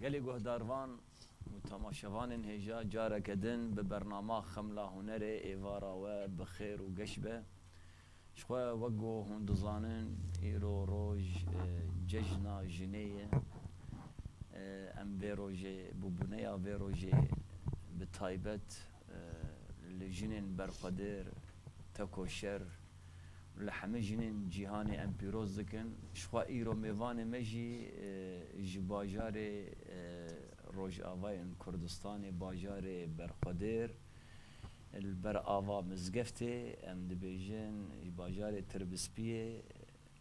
Gelê guhdarvan û temaşevanên hêja careke din bi bernama Xemla Hunerê êvara we bi xêr û geş be. Ji xwe wek ku hûn dizanin îro roj cejna jinê ye. Em vê rojê, bûbûneya vê rojê bi taybet li jinên berxwedir, tekoşer, Li hemî jinên cîhanê em pîroz dikin. Ji xwe îro mêvanê me jî ji bajarê rojavayên Kurdistanê bajarê Berxwedêr li ber ava mizgeftê em dibêjin ji bajarê Tirbispiyê,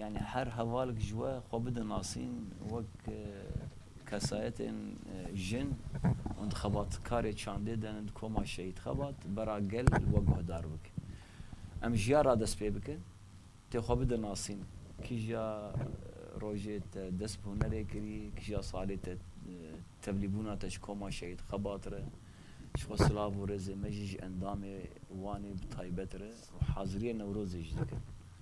Yanî her hevalek ji we xwe bide nasîn wek kesayetên jin û di xebatkarê çandê de ne di koma Şehîd Xebat bera gel we guhdar bike. Em ji ya re dest pê bikin, tê xwe bide nasîn, kîja rojê te dest bi hunerê kirî, kîja salê te tevlîbûna te ji koma Şehîd Xebat re, ji xwe silav û rêzê me jî ji endamê wan ê bi taybet re û haziriyê Newrozê jî dikin.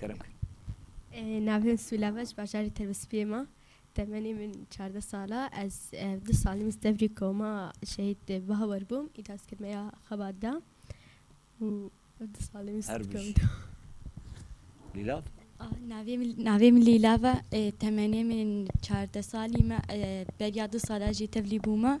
Kerem kî? Navê min Sûlab e, ji bajarê Tevspiyê me. Temenê min çardeh sal e. Ez du salî min Silêvrî koma Şehîd Bawer bûm, îca skirmeya xebat de û ev du salî min Her Silêvrî bijî. koma. Lîlav? Navê min navê min Lîlav e, temenê min çardeh salî me. Beriya du sal e jî tevlî bûme.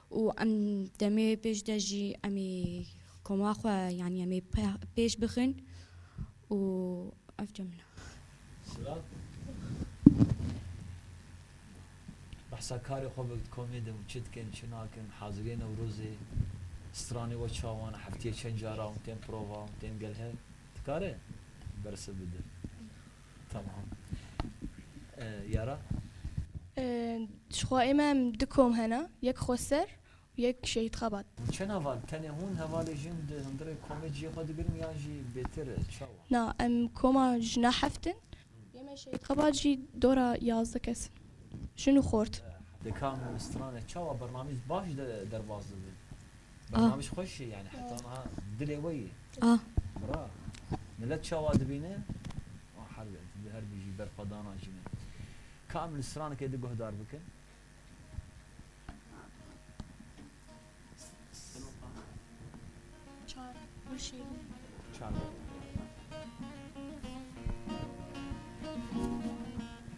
Û em demê pêş de jî em ê koma xwe yanî em ê pêş bixin û ev çem min e. Behsa karê xwe bike di komê de û çi dikin çi nakin haziriyê Newrozê stranê we çawan e, heftiyê çend cara hûn tên prova hûn tên gel hev dikare bersiv bide? Tamam. Yara? Dişxwa ê me em du kom hene, yek Xweser û yek Şehîd Xebat. Çend heval? Tenê hûn hevalê jin di hundirê komê cihê xwe digirin yan jî bêtir e? Çawa? Na, em koma jina heft in. Yê me Şehîd Xebat jî dora yazdeh kes in. Jin û xort. Di kam û stranê çawa bernamîz baş derbas dibe? Bernamej xweş e yani heta niha dilê we yê. Bira. Milet çawa dibîne? Wan herbi em tu herbi jî ber xwe dana jî min. Ka em li stranekê di guhdar bikin? Çar gulşîn. Çar gulşîn.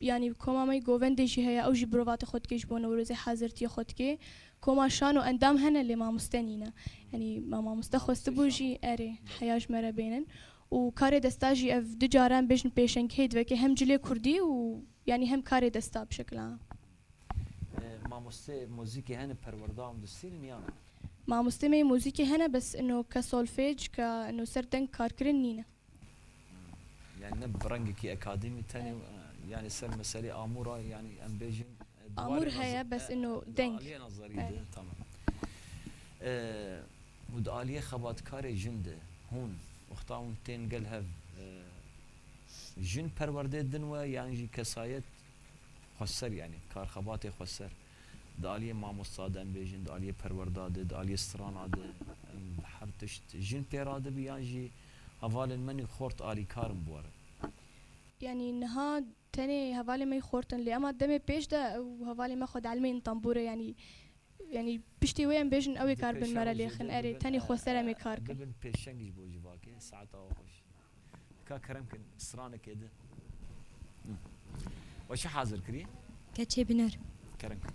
Yanî koma me yê govendê jî heye ew jî birovati xwe dike ji bo Newrozê hezirtiyê xwe dike. Koma şano endam hene lê mamoste nîne. Yanî me mamoste xwestibû jî erê heya ji me re bênin. Û karê desta jî ev du care em bêjin pêşengihê diveke hem cilê kurdî û yanî hem karê desta bi şekila. Mamoste mozîkê hene perwerda û distîn in ya na? Mamoste me yê mozîkê hene bes ino ke solfej ke ino ser deng karkirin nîne. Yani ne bi rengekî akademî tenê yani ser meselê amû ra yani em bêjin Amûr heye bes ino deng. Aliyê nazarî de tamam. Û di aliyê xebatkarê jin de hûn wexta hûn tên gel hev jin perwerdê din we yan jî kesayet xweser yani karxebatê xweser di aliyê mamosta de em bêjin di aliyê perwerda de di aliyê strana de em her tişt jin pêra dibî yan jî Hevalên menî xort alîkar in bwarin. Yanî niha tenê hevalên me yî xort in lê ema demê pêş de ew hevalên me xwe dielmeyîn tembûrê yanî yanî piştê wê em bêjin ewê kar bin me re lê xin erê tenê xwe ser em ê kar kin. Bibin pêşeng ji bo civakê saet awe xweş e. Ka kerem kin stranekê di. We çi hazir kirî? Keçê binêr. Kerem kin.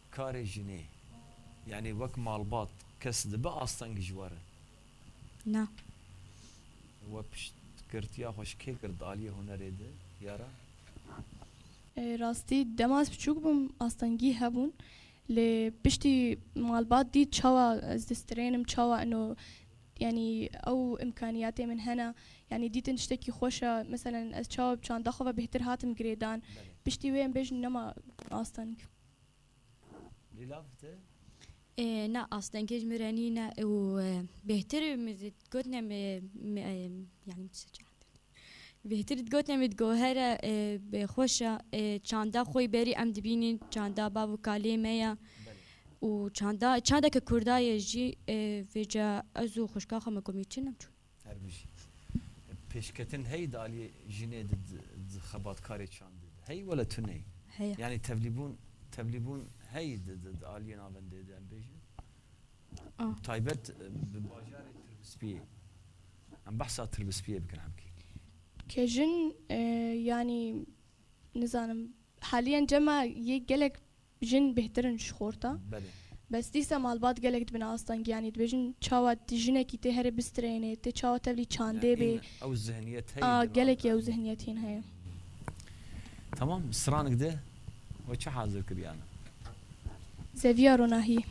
Karê jinê, yanî wek malbat, kes dibe asteng ji we re? Na. We piştgirtiya xwe ji kê kir di aliyê hunerê de Yara? Rastî dema ez biçûk bûm astengî hebûn lê piştî malbat dît çawa ez distrênim çawa ino yanî ew îmkanîyatê min hene yanî dîtin tiştekî xweş e meselen ez çawa bi çanda xwe ve bêhtir hatim girêdan piştî wê em bêjin nema asteng. Ê na astengê ji min re nîne û bêhtir min zî dikotine yanî bêhtir dikotine min digohere bê xweş e ê çanda xwe yî berî em dibînîn çanda bav û kalê me ye û çanda çandeke kurda ye jî vêca ez û xwişka xwe min komî çin em çûn. Her bijî. Pêşketin hey di aliyê jinê di di xebatkarê çandê di hey wele tunê? Heye. Yanî tevlîbûn tevlîbûn hey di di di aliyê navendê di em bêjin? A. Taybet bi bajarê Tirbispiyê. Em behsa Tirbispiyê bikin hemkî. Ke jin yanî nizanim haliyen cema yê gelek Jin bêhtir in ji xorta. Bes dîsa malbat gelek dibin astan giyanî. Dibêjin çawa jinekî tê herê bistreyêne, tê çawa tevlî çandê bê. A, gelekî ew zihniyet hîn heye. Tamam, stranik de we çi hazir kiriyane? Zeviya ronahî.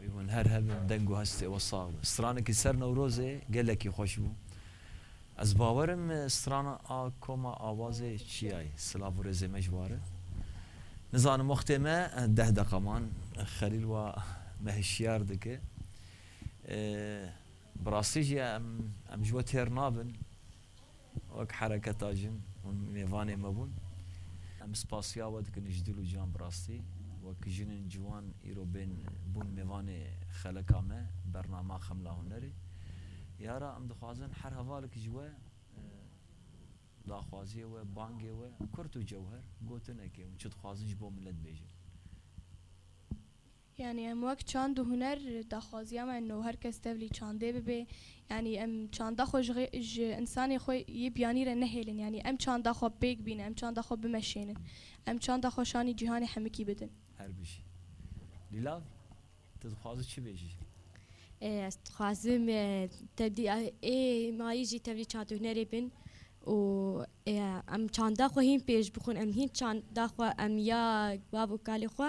Wê hûn her hebin deng û hestê we sax be. Stranekî ser Newrozê gelekî xweş bû. Ez bawer im strana a koma Awazê çiyayê. Silav û rêzê me ji ware. Nizanim wextê me deh deqa man. Xelîl wa me hişyar dike. Bi rastî jî em ji we têr nabin. Wek hereketa jin hûn mêvanê me bûn. Em spasiya we dikin ji dil û can bi rastî. Wek jinên ciwan îro bên bûn mêvanê xeleka me bernama Xemla Hunerê. Yara em dixwazin her hevalek ji we daxwaziyê we, bangê we, kurt û cewher, gotinekê hûn çi dixwazin ji bo milet bêjin. Yanî em wek çand û huner daxwaziya me no her kes tevlî çandê bibe. Yanî em çanda xwe ji însanê xwe yê biyanî re nehêlin. Yanî em çanda xwe pêk bînin, em çanda xwe bimeşênin. Em çanda xwe şanî cîhanê hemikî bidin. Her bijî. Lîlav, tu dixwazî çi bêjî? Ez dixwazim tevlî ê mayî jî tevlî çand û hunerê bin û em çanda xwe hîn pêş bixwin. Em hîn çanda xwe em ya bav û kalê xwe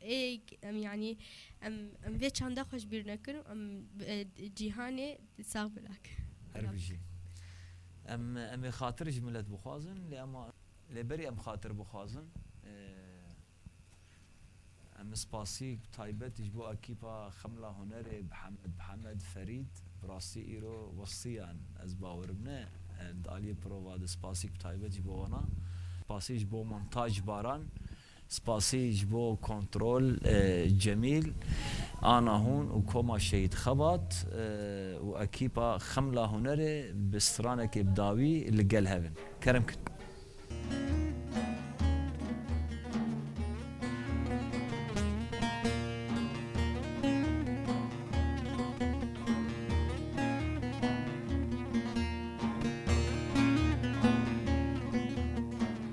Ê em yanî em em vê çanda xwe ji bîr nekin û em cîhanê sax bi nakin. Her bijî. Em em ê xatir ji milet bixwazin lê em lê berî em xatir bixwazin em spasîk taybet ji bo ekîpa Xemla Hunerê Bihemed Bihemed Ferîd bi rastî îro westiyan ez bawerim ne di aliyê prova de spasîk taybet ji bo wana spasî ji bo Montaj Baran Spasî ji bo kontrol Cemîl, Ana Hûn û Koma Şehîd Xebat û ekîpa Xemla Hunerê bi stranekê bi dawî li gel hev in. Kerem kir.